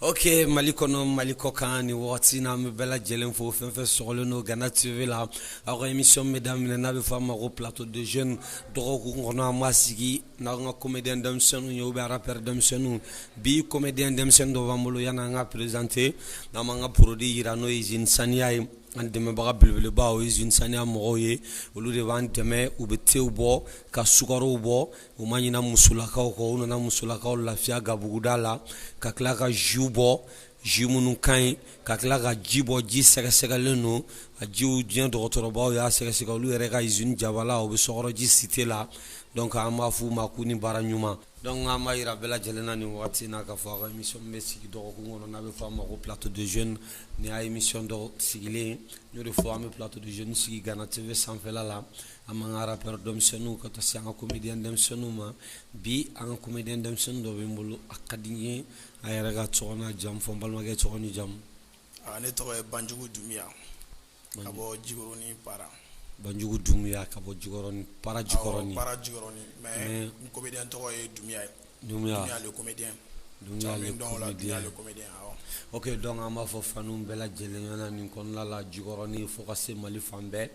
Ok mali kɔnɔ mali kɔkan nin waati na an bɛ bɛɛ lajɛlen fo fɛn fɛn sɔgɔlen don gana tv la aw ka émission bɛ daminɛ n'a bɛ fɔ a ma ko plateau de jeunes dɔgɔkun kɔnɔ an b'a sigi n'an ka comédien denmisɛnnin ye bɛ rappeur denmisɛnninw bi comédien denmisɛnnin dɔ b'an bolo yan an ka présenter n'an b'an ka produit jira n'o ye usine saniya ye an dɛmɛbaga belebelebaw ye usine saniya mɔgɔw ye olu de b'an dɛmɛ u bɛ te bɔ ka sukarow bɔ U ma ɲina musolakaw kɔ u nana musolakaw lafiya gabuguda la ka tila ka jus bɔ jus minnu ka ɲi ka tila ka ji bɔ ji sɛgɛsɛgɛlen don a jiw diɲɛ dɔgɔtɔrɔbaw y'a sɛgɛsɛgɛ olu yɛrɛ ka usine jabala u bɛ sɔkɔrɔji cité la donc an b'a f'u ma k'u ni baara ɲuman donc an b'a jira bɛɛ lajɛlen na nin waati na k'a fɔ émission bɛ sigi dɔgɔkun kɔnɔ n'a bɛ fɔ a ma ko plateau de jeunes nin y'a émission dɔ sigilen n y'o de fɔ an bɛ plateau de jeunes sigi gana tv sanfɛla la an b'an ka rappeur denmisɛnninw ka taa se an ka comédien denmisɛnninw ma bi an ka comédien denmisɛnnin dɔ bɛ n bolo a ka di n ye a yɛrɛ ka tɔgɔ n'a jamu fɔ n balimakɛ tɔgɔ ni jamu ah, ne tɔgɔ ye Banjugu Dunbiya ka bɔ Jikɔrɔni Para Banjugu Dunbiya ka bɔ Jikɔrɔni Para Jikɔrɔni Para Jikɔrɔni mais n comédien tɔgɔ ye Dunbiya ye Dunbiya ok donc an b'a fɔ fanw bɛɛ lajɛlen ɲɛna nin kɔnɔna la Jikɔrɔni fo ka se mali fan bɛɛ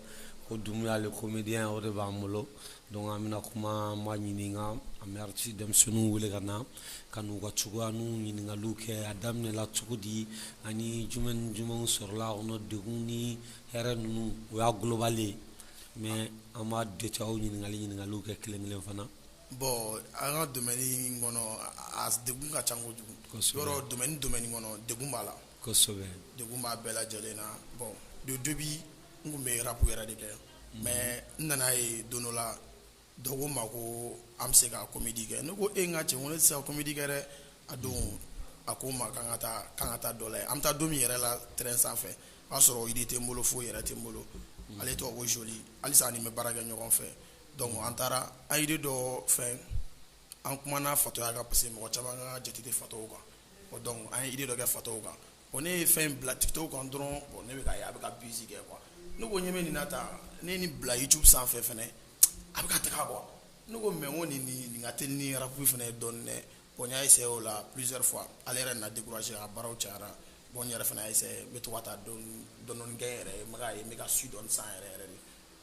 ko Dunbiya le comédien o de b'an bolo donc an bɛna kuma an b'a ɲininka an bɛ artiste denmisɛnnin wele ka na ka n'u ka cogoya n'u ɲininkali kɛ a daminɛla cogo di ani jumɛn ni jumɛnw sɔrɔla a kɔnɔ degun ni hɛrɛ ninnu o y'a global ye mais an b'a détail ɲininkali ɲininkali kɛ kelenkelen fana Bon an ka domaine in kɔnɔ a degun ka ca kojugu yɛrɛ domaine kɔnɔ degun b'a la degun b'a bɛɛ lajɛlen na bon donc début n tun bɛ rap yɛrɛ de kɛ mais n nana a ye don dɔ la dɔ ko n ma ko an bɛ se ka comédie kɛ n ko e ka cɛ ne tɛ se ka comédie kɛ dɛ a don a ko n ma ka taa k'an ka taa dɔ la an bɛ taa don min yɛrɛ la terrain sanfɛ o y'a sɔrɔ idée tɛ n bolo foyi yɛrɛ tɛ n bolo ale tɔgɔ ko Joli halisa a ni n bɛ baara kɛ ɲɔgɔn fɛ Donc an taara an idée dɔ fɛ an kumana fatɔya kan parce que mɔgɔ caaman ka jate tɛ fatɔw kan bon donc an ye idée dɔ kɛ fatɔw kan bon ne ye fɛn in bila tik tok kan dɔrɔn bon ne bɛ k'a ye a bɛ ka buzz kɛ quoi ne ko ɲɛ bɛ nin na tan ne ye nin bila youtube sanfɛ fana a bɛ ka taga quoi ne ko mais n ko nin nin ka teli ni rap fana ye dɔɔnin dɛ bon n y'a essayer o la plusieurs fois ale yɛrɛ nana décourager a ka baaraw cayara bon n yɛrɛ fana y'a essayer n bɛ to ka taa dɔɔnin dɔɔnin kɛ n yɛrɛ ye n bɛ k'a ye n bɛ ka su dɔɔnin san yɛrɛ yɛrɛ de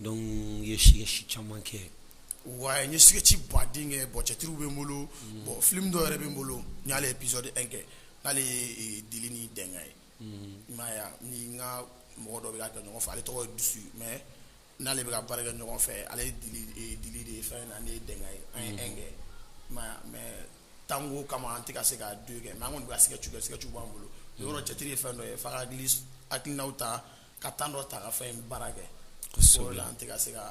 Donc i ye sketch caman kɛ ouais n ye sketch baden kɛ bon cɛtiriw bɛ n bolo bon film dɔw yɛrɛ bɛ n bolo n y'ale épisode un kɛ n'ale ye Dili ni Dɛnga ye n n ka mɔgɔ dɔ bɛ k'a kɛ ɲɔgɔn fɛ ale tɔgɔ ye Dusu mais n'ale bɛ ka baara kɛ ɲɔgɔn fɛ ale ye Dili de ye fɛn na ne ye Dɛnga ye an ye un kɛ mais temps ko kama an tɛ ka se ka deux kɛ mais an kɔni' a se ka cogoya sketch b'an bolo yɔrɔ cɛtiri ye fɛn dɔ ye fa hakili hakilina ta ka temps dɔ ta ka fɛn in baara kɛ kosɛbɛ an tɛ ka se ka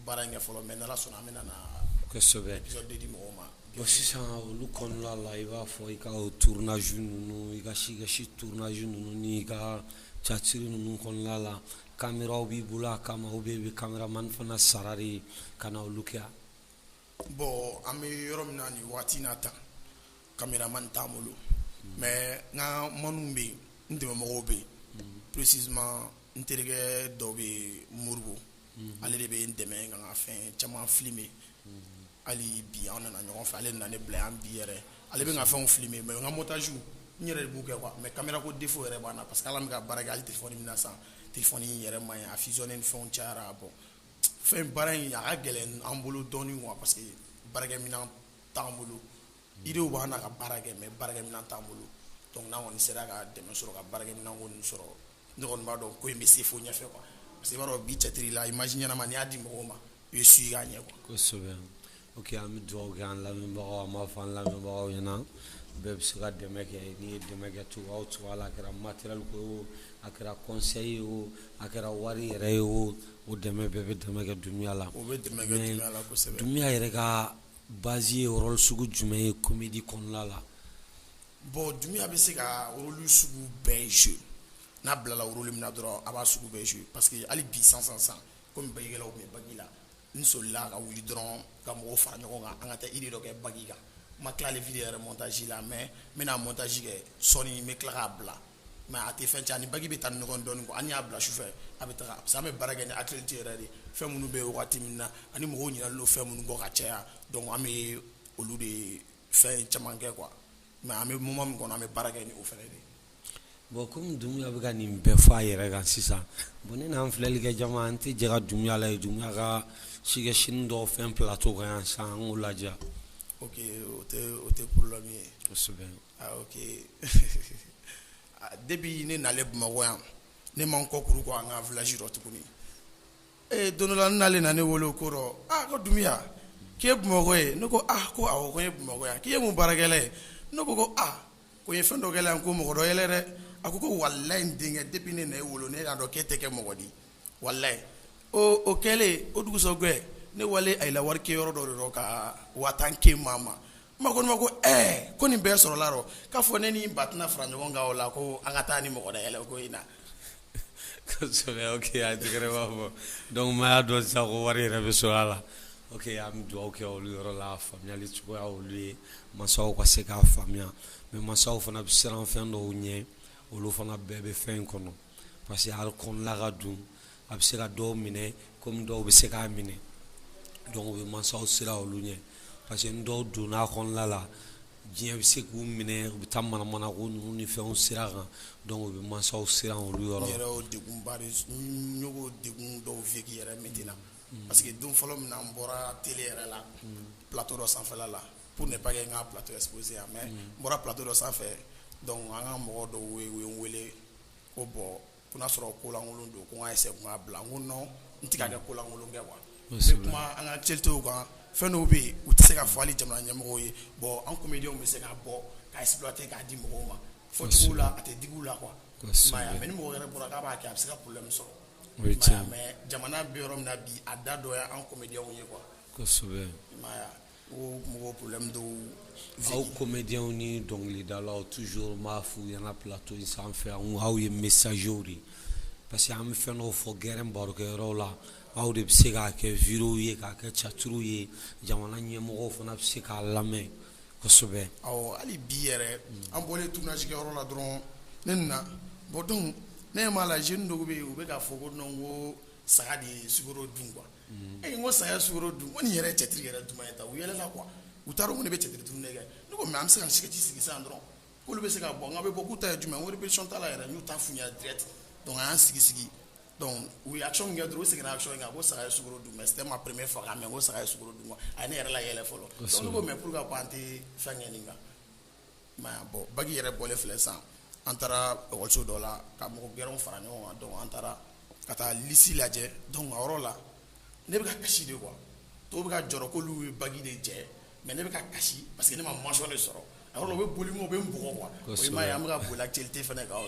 baara in kɛ fɔlɔ mais n'Ala sɔnna an bɛna na kosɛbɛ épisode deux di mɔgɔw ma bon sisan olu kɔnɔna la i b'a fɔ i ka o tournage ninnu i ka sketch tournage ninnu ni i ka catiri ninnu kɔnɔna la kameraw b'i bolo a kama ou bien i bɛ kameramani fana sara de ka na olu kɛ bon an bɛ yɔrɔ min na nin waati in na tan kameraman t'an bolo mais n ka maaw bɛ yen n dɛmɛmɔgɔw bɛ yen précisément n terikɛ dɔ bɛ moribugu ale de bɛ n dɛmɛ ka n ka fɛn caman filmer hali bi an nana ɲɔgɔn fɛ ale nana n bila yan bi yɛrɛ ale bɛ n ka fɛnw filmer mais n ka montage n yɛrɛ b'u kɛ mais kamera ko défaut yɛrɛ b'an na parce que ala bɛ ka baara kɛ hali téléphone min na sisan téléphone yɛrɛ man ɲi a fison ni fɛn cayara bon fɛn baara in a ka gɛlɛn an bolo dɔɔnin parce que baaraminɛn t'an bolo idéew b'an na ka baara kɛ mais baaraminɛn t'an bolo donc n'an kɔni sera ka dɛmɛ sɔrɔ ka baaraminɛn sɔrɔ ne kɔni b'a dɔn ko in bɛ se fo ɲɛfɛ quoi parce que i b'a dɔn bi cɛtiri la image ɲɛnama n'i y'a di mɔgɔw ma i bɛ suivre k'a ɲɛ kosɛbɛ o an bɛ dugawu kɛ an lamɛnbagaw an b'a fɔ an lamɛnbagaw ɲɛna bɛɛ bɛ se ka dɛmɛ kɛ n'i ye dɛmɛ kɛ cogo o cogo la a kɛra matériel ko ye a kɛra conseil ye o a kɛra wari yɛrɛ ye o o dɛmɛ bɛɛ bɛ dɛmɛ kɛ Dunbiya la o bɛ la Dunbiya yɛrɛ ka Base ye rôle sugu jumɛn ye comédie kɔnɔna la? Bon Dunbiya bɛ se ka rôle sugu bɛɛ jouer n'a bilala rôle min na dɔrɔn a b'a sugu bɛɛ jouer parce que hali bi sisan sisan sisan komi bagikɛlaw tun bɛ bagi la n solila ka wuli dɔrɔn ka mɔgɔw fara ɲɔgɔn kan an ka taa idée dɔ kɛ bagi kan n ma tila hali vidéo yɛrɛ montage la mais n bɛna montage kɛ sɔɔnin n bɛ tila k'a bila. mais a tɛ fɛn cɛn a ni bagi bɛ taa ni ɲɔgɔn dɔɔnin quoi an y'a bila sufɛ a bɛ taa parce que an bɛ baara kɛ ni actualité yɛrɛ de fɛn minnu bɛ yen waati min na ani mɔgɔw ɲɛna don fɛn minnu kɔ ka caya donc an bɛ olu de fɛn caman kɛ quoi mais an bɛ moment min kɔnɔ an bɛ baara kɛ ni o fana de bon kɔmi Dunbiya bɛ ka nin bɛɛ fɔ a yɛrɛ kan sisan bon ne n'an filɛli kɛ jama an tɛ jɛ ka Dunbiya lajɛ Dunbiya ka sketch nin dɔw fɛn plateau kan yan sisan an k'o lajɛ ok o tɛ problème ye Depuis ne na bamakɔ yan ne ma n kɔ kuru ko an ka village dɔ tuguni ee don dɔ la nalen na ne wele ko ko Dumbuya k'i ye bamakɔ ye ne ko ko ko n ye bamakɔ yan k'i ye mun baara kɛla ye n ko ko aa ko n ye fɛn dɔ kɛla yan ko mɔgɔ dɔ yɛlɛ dɛ a ko ko walayi n denkɛ depuis ne na e wolo ne y'a dɔn k'e tɛ kɛ mɔgɔ di walayi o kɛlen o dugusɛjɛ ne walila wari ke yɔrɔ dɔ de rɔ ka waa tan kɛ maa ma Ma ko ma ko ɛɛ ko nin bɛɛ sɔrɔla a rɔ k'a fɔ ne ni ba tɛna fara ɲɔgɔn kan o la ko an ka taa ni mɔgɔ da yɛlɛ ko in na ok a tigi yɛrɛ b'a fɔ donc ma y'a dɔn sa ko wari yɛrɛ bɛ sɔrɔ a la ok an bɛ dugawu kɛ olu yɔrɔ la faamuyali cogoya olu ye masaw ka se k'a faamuya mais masaw fana bɛ siran fɛn dɔw ɲɛ olu fana bɛɛ bɛ fɛn in kɔnɔ parce que hali kɔnɔna ka dun a bɛ se ka dɔw minɛ komi dɔw bɛ se k'a minɛ donc o bɛ mansaw siran olu ɲɛ parce que ni dɔw donna a kɔnɔna la diɲɛ bɛ se k'u minɛ u bɛ taa manamana ko ninnu ni fɛnw sira kan donc o bɛ mansaw siran olu yɔrɔ la. yɛrɛ y'o degunba de n y'o degun dɔw vécu yɛrɛ métier la mm. parce que don fɔlɔ min na n bɔra télé yɛrɛ la mm. plateau dɔ sanfɛla la pour ne pas que n ka plateau exposé yan mais mm. n bɔra plateau dɔ sanfɛ donc an ka mɔgɔ dɔw ye u ye n wele ko bon ko n'a sɔrɔ kolankolon don ko n ka essayer k'a bila n ko non n tɛ ka kɛ kolankolon kɛ quoi n bɛ kuma an ka actualités kan fɛn dɔw bɛ yen u tɛ se ka fɔ hali jamana ɲɛmɔgɔw ye bon an comédiens bɛ se ka bɔ ka exploiter k'a di mɔgɔw ma fɔcogo la a tɛ digi u la quoi mais ni mɔgɔ wɛrɛ bɔra k'a b'a kɛ a bɛ se ka problème sɔrɔ mais jamana bɛ yɔrɔ min na bi a da dɔ ye an comédiens ye Ko mɔgɔ problème dɔw bɛ aw comédiens ni dɔnkilidalaw toujours n b'a f'u ɲɛna plateau in sanfɛ n ko aw ye messagers de ye parce que an bɛ fɛn dɔw fɔ gɛrɛn barokɛyɔrɔw la aw de bɛ se k'a kɛ vidéo ye k'a kɛ théâtre ye jamana ɲɛmɔgɔw fana bɛ se k'a lamɛn kosɛbɛ, awɔ hali bi yɛrɛ an bɔlen tournage kɛ yɔrɔ la dɔrɔn ne nana bon donc ne ɲɛ b'a la jeunes dɔw bɛ yen u bɛ k'a fɔ ko non ko saga de ye sukaro dun quoi e ko saya s dun ko nin yɛrɛ cɛtigi yɛrɛ duman ye ta u yɛlɛ la qu u taara u ne bɛ cɛ dun ne kɛ ne ko mɛ an bɛ se ka sɛti sigi san dɔrɔn olu bɛ se ka bɔ n' bɛ bɔ k'u ta ye jumɛn wari bɛcɔn ta yɛrɛ n'u ta f dɛrɛti dɔn y'an sigi sigi u ya min kɛ duuru sigira a kan ko saya s dun mɛ se ma peremɛ faga mɛ ko saya s dun a ne yɛrɛ yɛlɛ fɔlɔ mɛ pur ka ko an tɛ fɛn kɛ nin kan Bon bac yɛrɛ bɔlen filɛ sisan an taara kalanso dɔ la ka mɔgɔ gɛrɛw fara ɲɔgɔn kan an taara ka taa liste lajɛ donc a yɔrɔ la ne bɛ ka kasi de quoi tɔw bɛ ka jɔrɔ k'olu ye bac de jɛ mais ne bɛ ka kasi parce que ne ma mention de sɔrɔ u bɛ boli u bɛ n bugɔ quoi an bɛ ka boli actualité fana kan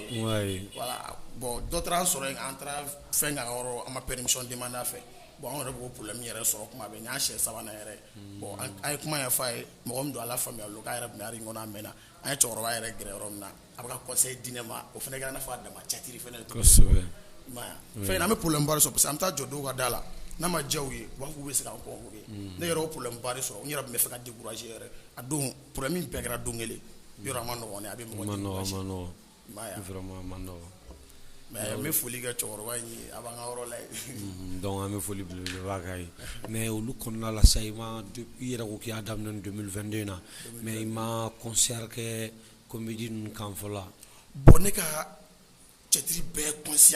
bon dɔ taara an sɔrɔ yen an taara fɛn yɔrɔ an ma permission demander a fɛ bon anw yɛrɛ b'o problème yɛrɛ sɔrɔ tuma bɛɛ n'a siɲɛ sabanan yɛrɛ bon an ye kuma ɲɛfɔ a ye mɔgɔ min don ala faamuya k'a yɛrɛ tun bɛ art kɔnɔ a mɛnna an ye cɛkɔrɔba yɛrɛ gɛrɛ yɔrɔ min na a bɛ ka conseil di ne ma o fana i n'a fɔ a dama catiri fɛn an bɛ probleme ba de sɔrɔ parce que an bɛ taa jɔ dɔw ka da la n'a ma diya u ye u b'a fɔ k'u bɛ se k'an convoquer ne yɛrɛ o probleme ba de sɔrɔ n yɛrɛ bɛ fɛ ka decourager yɛrɛ a don probleme in bɛɛ kɛra don kelen yɔrɔ a ma nɔgɔn a bɛ N bɛ foli kɛ cɛkɔrɔba ye a b'an ka yɔrɔ la donc an bɛ foli belebeleba k'a ye mais olu kɔnɔna la sa i ma i yɛrɛ ko k'i y'a daminɛ 2022 na mais i ma concert kɛ comedie ninnu kan fɔlɔ bon ne ka cɛtiri bɛɛ kɔnsi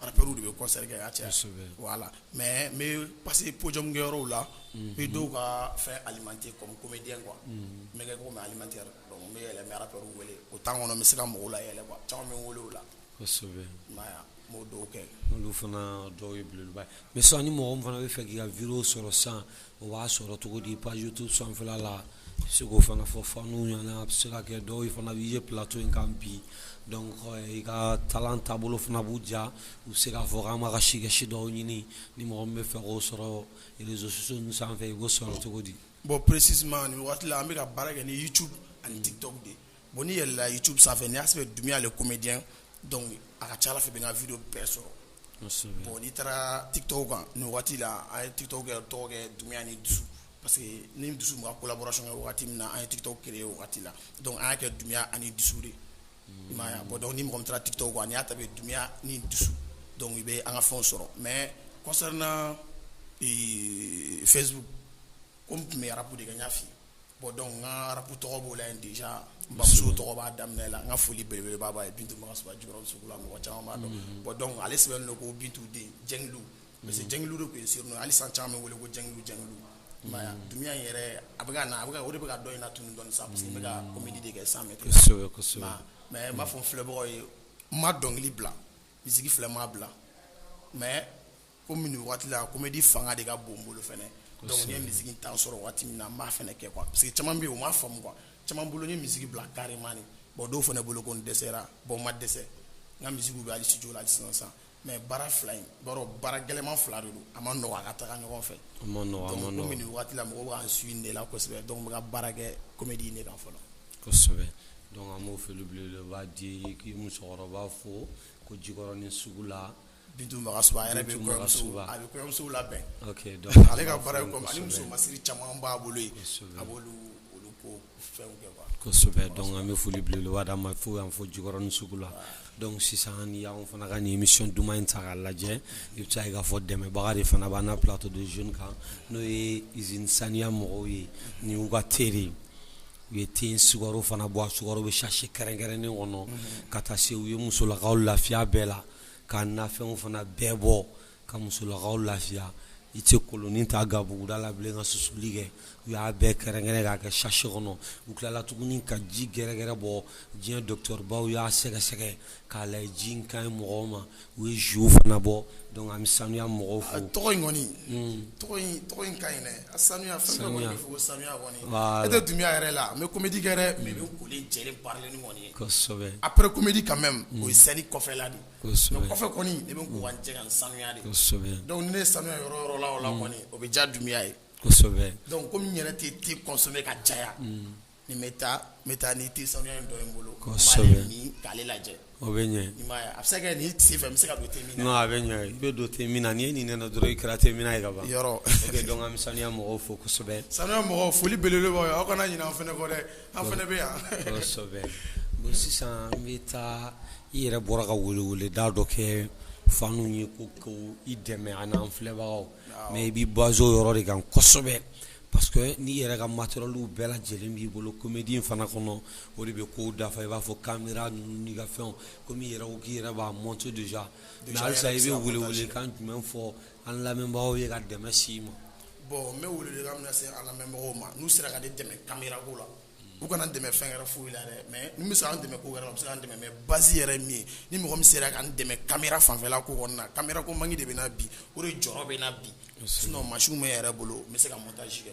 Arabu de bɛ kɔsari y'a cɛ la mɛ n pa que pjamukɛ yɔrɔw la bi dɔw ka fɛ alimami kɔ kɔmi bɛ den kuwa n bɛ ko alimami bɛ yɛlɛ ara wele o' kɔnɔ bɛ se ka mɔgɔw la yɛlɛ caman bɛ wolo la dɔw kɛ olu fana dɔw ye mɛ san ni mɔgɔ fana bɛ fɛ k' ka v sɔrɔ san o b'a sɔrɔ cogo di pajutu sanfɛfɛ la segu fana fɔ fɔ n'u ɲɔgɔn se ka kɛ dɔw fana b'i ye pto in kan bi i ka taa taabolo fana b'u ja u se k'a fɔ an ma ka sikɛsi dɔw ɲini ni mɔgɔ bɛ fɛ o sɔrɔzsusu ninnu sanfɛ i ko sɔrɔ cogo di bɔn psi waati an bɛka ka baara kɛ ni ye tu ani tɛ dɔw de Bon ni yɛlɛla youtube sanfɛ ni y'a sɛbɛn Dunbiya le comedien donc a ka ca Ala fɛ i bɛ n ka video bɛɛ sɔrɔ, kosɛbɛ, bon n'i taara tik tok kan nin waati la an ye tik tok kɛ tɔgɔ kɛ Dunbiya ni dusu parce que ne ni dusu tun bɛ ka collaboration kɛ waati min na an ye tik tok creer o waati la donc an y'a kɛ Dunbiya ani dusu de ye, i m'a ye wa, bon donc ni mɔgɔ min taara tik tok kan n'i y'a tape Dunbiya ni dusu donc i bɛ an ka fɛnw sɔrɔ mais concernant ee facebook comme n tun bɛ rap de kɛ n y'a fɔ i ye bon donc n ka rap tɔgɔ b'o la yen deja n bamuso tɔgɔ b'a daminɛ la n ka foli belebeleba b'a ye Bintu Magasuba Jikɔrɔni Sugu la mɔgɔ caman b'a dɔn bon donc ale sɛbɛnnen don ko Bintu den jɛgɛdu parce que jɛgɛlu de tun ye n surnom hali sisan caman bɛ n wele ko jɛgɛdu jɛgɛdu Dunbiya in yɛrɛ a bɛ ka na o de bɛ ka dɔ in natunun dɔɔnin sa parce que n bɛ ka comedie de kɛ sisan mais mais n b'a fɔ n filɛbagaw ye n ma dɔnkili bila misiki filɛ n m'a bila mais komi nin waati la comedie fanga de ka bon n bolo fana donc n ye misiki temps sɔrɔ waati min na n b'a fana kɛ parce que caman bɛ yen o m'a faamu quoi caman bolo n ye misiki bila carrement bon dɔw fana bolo ko n dɛsɛra bon n ma dɛsɛ n ka misikiw bɛ hali studio la sisan mais baara fila in b'a baara gɛlɛnman fila de don a ma nɔgɔ a ka taga ɲɔgɔn fɛ komi nin waati la mɔgɔw bɛ k'an suivre de la kosɛbɛ donc n bɛ ka baara kɛ comedie de kan fɔlɔ kosɛbɛ donc an b'o foli ba di k'i musokɔrɔba fo ko Jikɔrɔni sugu la Bintu Magasuba a yɛrɛ bɛ kɔɲɔmusow labɛn ale ka baara muso masiri caman b'a bolo a b'olu ko fɛnw kɛ kosɛbɛ donc an bɛ foli belebele d'a ma fo yan fo Jikɔrɔni sugu la donc sisan n'i y'anw fana ka nin émission duman in ta k'a lajɛ i bɛ se k'a fɔ dɛmɛbaga de fana b'an na plateau de jeunes kan n'o ye usine saniya mɔgɔw ye ni u ka te u ye te sukaro fana bɔ a sukaro bɛ sachet kɛrɛnkɛrɛnnen kɔnɔ ka taa se u ye musolakaw lafiya bɛɛ la ka nafɛnw fana bɛɛ bɔ ka musolakaw lafiya i tɛ kolonin ta gabuguda la bilen ka susuli kɛ u y'a bɛɛ kɛrɛnkɛrɛn k'a kɛ sachet kɔnɔ u tilala tuguni ka ji gɛrɛgɛrɛ bɔ diɲɛ docteurbaw y'a sɛgɛsɛgɛ k'a lajɛ ji in ka ɲi mɔgɔw ma u ye jus fana bɔ donc an bɛ sanuya mɔgɔw fo tɔgɔ in kɔni tɔgɔ in ka ɲi a sanuya sanuya sanuya e tɛ Dumbuya yɛrɛ la n bɛ comédie kɛ dɛ mais n bɛ jɛ baara kɔni ye après comédie quand même o ye scène kɔfɛla de kɔfɛ kɔni ne bɛ jɛ ka sanuya de donc ne ye sanuya yɔrɔ yɔrɔ la o la kɔni o bɛ diya Dumbuya ye donc komi n yɛrɛ tɛ te consommer ka caya ni n bɛ taa n bɛ taa ni te sanuya in dɔ ye n bolo k'ale lajɛ o bɛ ɲɛ a bɛ se ka kɛ nin sen fɛ n bɛ se ka don te min na a bɛ ɲɛ i bɛ don te min na n'i ye nin nɛnɛ dɔrɔn i kɛra te minna ye ka ban yɔrɔ donc an ka saniya mɔgɔw fo kosɛbɛ sanuya mɔgɔw foli belebeleba aw kana ɲinɛ an fana kɔ dɛ An fana bɛ yan kosɛbɛ bon sisan n bɛ taa i yɛrɛ bɔra ka weleweleda dɔ kɛ fanw ye ko ko i dɛmɛ ani an filɛbagaw mais i bɛ basé o yɔrɔ de kan kosɛbɛ parce que n'i yɛrɛ ka matériel bɛɛ lajɛlen b'i bolo comédie fana kɔnɔ o de bɛ kow dafa i b'a fɔ caméra ninnu n'i ka fɛnw komi i yɛrɛ ko k'i yɛrɛ b'a monter déjà mais halisa i bɛ welewelekan jumɛn fɔ An lamɛnbagaw ye ka dɛmɛ s'i ma bon n bɛ welewelekan min lase an lamɛnbagaw ma n'u sera ka ne dɛmɛ caméra ko la u kana n dɛmɛ fɛn wɛrɛ foyi la dɛ mais n'u bɛ se k'an dɛmɛ ko wɛrɛ la u bɛ se k'an dɛmɛ mais base yɛrɛ ye min ye ni mɔgɔ min sera ka n dɛmɛ caméra fanfɛla ko kɔnɔna na caméra ko manque de bɛ n na bi o de jɔrɔ bɛ n na bi sinon machine bɛ n yɛrɛ bolo n bɛ se ka montage kɛ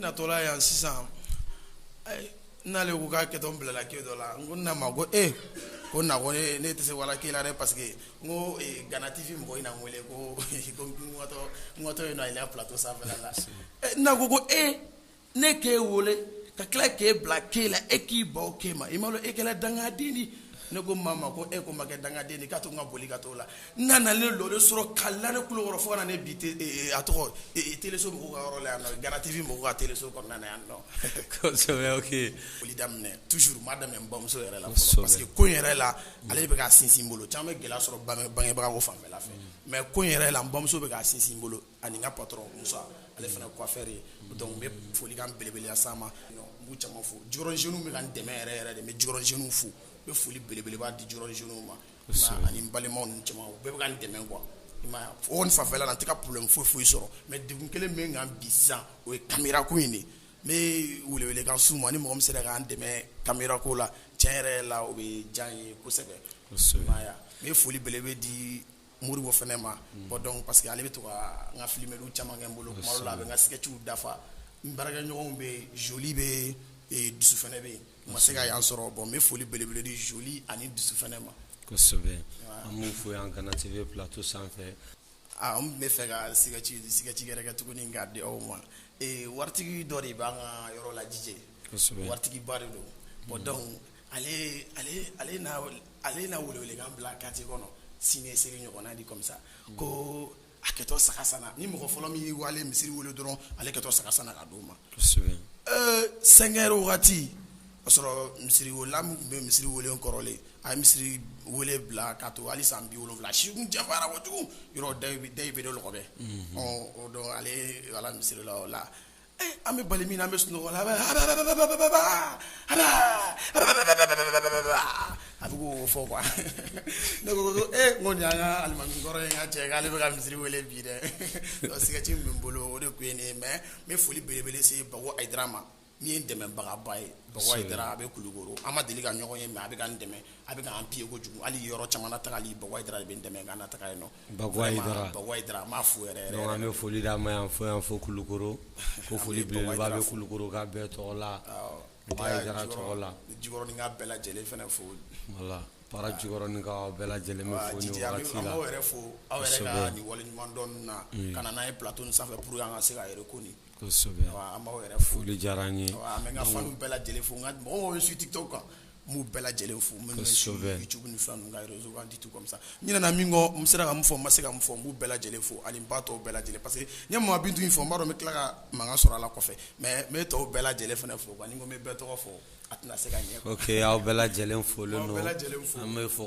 Natɔla yan sisan n'ale ko k'a kɛtɔ n bilala kɛ dɔ la n ko n na ma ko ko n na ko ne tɛ se wala kɛ la dɛ parce que n ko Gana TV mɔgɔ in na n wele kotɔ yen ale plateau sanfɛla la n na ko ko e ne k'e wolo ka tila k'e bila kɛ la e k'i ban kɛ ma i m'a lɔn e kɛla dangaden di ne ko mama ko e ko n ma kɛ dangaden di k'a to ka boli ka t'o la n'a na ne lɔre sɔrɔ ka la ne kukɔrɔ fo ka na ne bila a tɔgɔ teleso mɔgɔw ka yɔrɔ la yan Gana TV mɔgɔw ka teleso kɔnɔna yan donc foli daminɛ toujours n b'a daminɛ n bamuso yɛrɛ la parce que ko yɛrɛ la ale bɛ ka sinsin n bolo caman bɛ gɛlɛya sɔrɔ bangebaga ko fanfɛla fɛ mais ko yɛrɛ la n bamuso bɛ ka sinsin n bolo ani n ka patron Musa ale fana coiffeur ye donc n bɛ folikan belebeleba s'a ma n b'u caman fo Jikɔrɔni jeunes bɛ ka n dɛmɛ yɛrɛ yɛrɛ de n bɛ Jikɔrɔni jeunes fo n bɛ foli belebeleba di Jikɔrɔni jeunes ma ani n balimaw ni caman u bɛɛ bɛ ka n dɛmɛ quoi o fanfɛla la n tɛ ka problème foyi foyi sɔrɔ mais degun kelen min kan bi sisan o ye kamera ko in de n bɛ welewelekan s'u ma ni mɔgɔ min sera k'an dɛmɛ kamera ko la cɛ yɛrɛ la o bɛ diya n ye kosɛbɛ n bɛ foli belebele di Moribo fana ma bon donc parce que ale bɛ to ka n ka filimeli caman kɛ n bolo la a bɛ n ka sketchiw dafa n baarakɛɲɔgɔnw bɛ Joli bɛ Dusu fana bɛ yen ma se ka yan sɔrɔ bon n bɛ foli belebele di Joli ani Dusu fana ma kosɛbɛ an b'u fo yan Gana TV plateau sanfɛ n bɛ fɛ ka sketch sketch yɛrɛ kɛ tuguni k'a di aw ma waritigi dɔ de b'an ka yɔrɔ la Jije waritigiba de don bon donc ale na welewelekan bila quartier kɔnɔ sini seli ɲɔgɔnna di comme ça ko a kɛtɔ saga sanna ni mɔgɔ fɔlɔ min y'i waale misiri wele dɔrɔn ale kɛtɔ saga sanna ka d'o ma cinq heures waati o sɔrɔ misiri welela min tun bɛ misiri wele kɔrɔlen a ye misiri wele bila k'a to hali san bi wolonwula si janfara kojugu yɔrɔ da bɛ dɔ kɔfɛ ɔ o donc ale wala misiri la o la An bɛ bali min an bɛ sunɔgɔ a bɛ fɔ ne ko ko nin alimakɔrɔ in ka cɛ k'ale bɛ ka misisiriri weele bi dɛ sɛgɛti min bolo o de tun ye nin mɛ n foli belebele se dɔgɔdara ma n ye dɛmɛbagaba ye a bɛ kulukoro an ma deli ka ɲɔgɔn ye mɛ a bɛ ka dɛmɛ a bɛ an peko kojugu hali yɔrɔ caman ta' bɛ dɛmɛ ka taga ye nɔ Bago Ayidara n b'a fo an bɛ foli d'a ma yan fo yan fo Kulukoro ko foli bɛ Kulukoro ka bɛɛ tɔgɔ la Bago Ayidara tɔgɔ la Jikɔrɔni ka bɛɛ lajɛlen fana fo voilà Para Jikɔrɔni ka bɛɛ lajɛlen yɛrɛ fo aw waliɲumandɔn na ka na n'an ye plateau sanfɛ pour que an ka se ka yɛrɛ ko an b'aw yɛrɛ fo foli diyara an ye an bɛ n ka faniw bɛɛ lajɛlen fo n ka mɔgɔ min bɛ TikTok kan n b'u bɛɛ lajɛlen fo minnu bɛ YouTube ni fɛn ninnu ka réseau kan di tout comme ça n ɲinɛna min kɔ n sera ka min fɔ n ma se ka min fɔ n b'u bɛɛ lajɛlen fo ani n ba tɔw bɛɛ lajɛlen parce que n ye Mama Bintu fɔ n b'a dɔn n bɛ tila ka mankan sɔrɔ a la kɔfɛ mais n bɛ tɔw bɛɛ lajɛlen fana fo ba ni n ko n bɛ bɛɛ tɔgɔ fɔ a tɛna se ka ɲɛ aw bɛɛ lajɛlen fo fo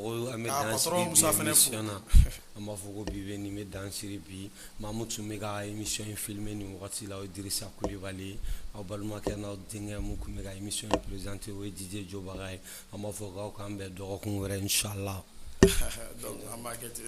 an b'a fɔ ko bi bɛ nin bɛ dan siri bi maa min tun bɛ ka émission in filmer nin wagati la o ye Dirisa Kulibali ye aw balimakɛ n'aw denkɛ min tun bɛ ka émission in présenter o ye DJ Jobaga ye an b'a fɔ k'aw k'an bɛn dɔgɔkun wɛrɛ inchallah donc an b'a kɛ ten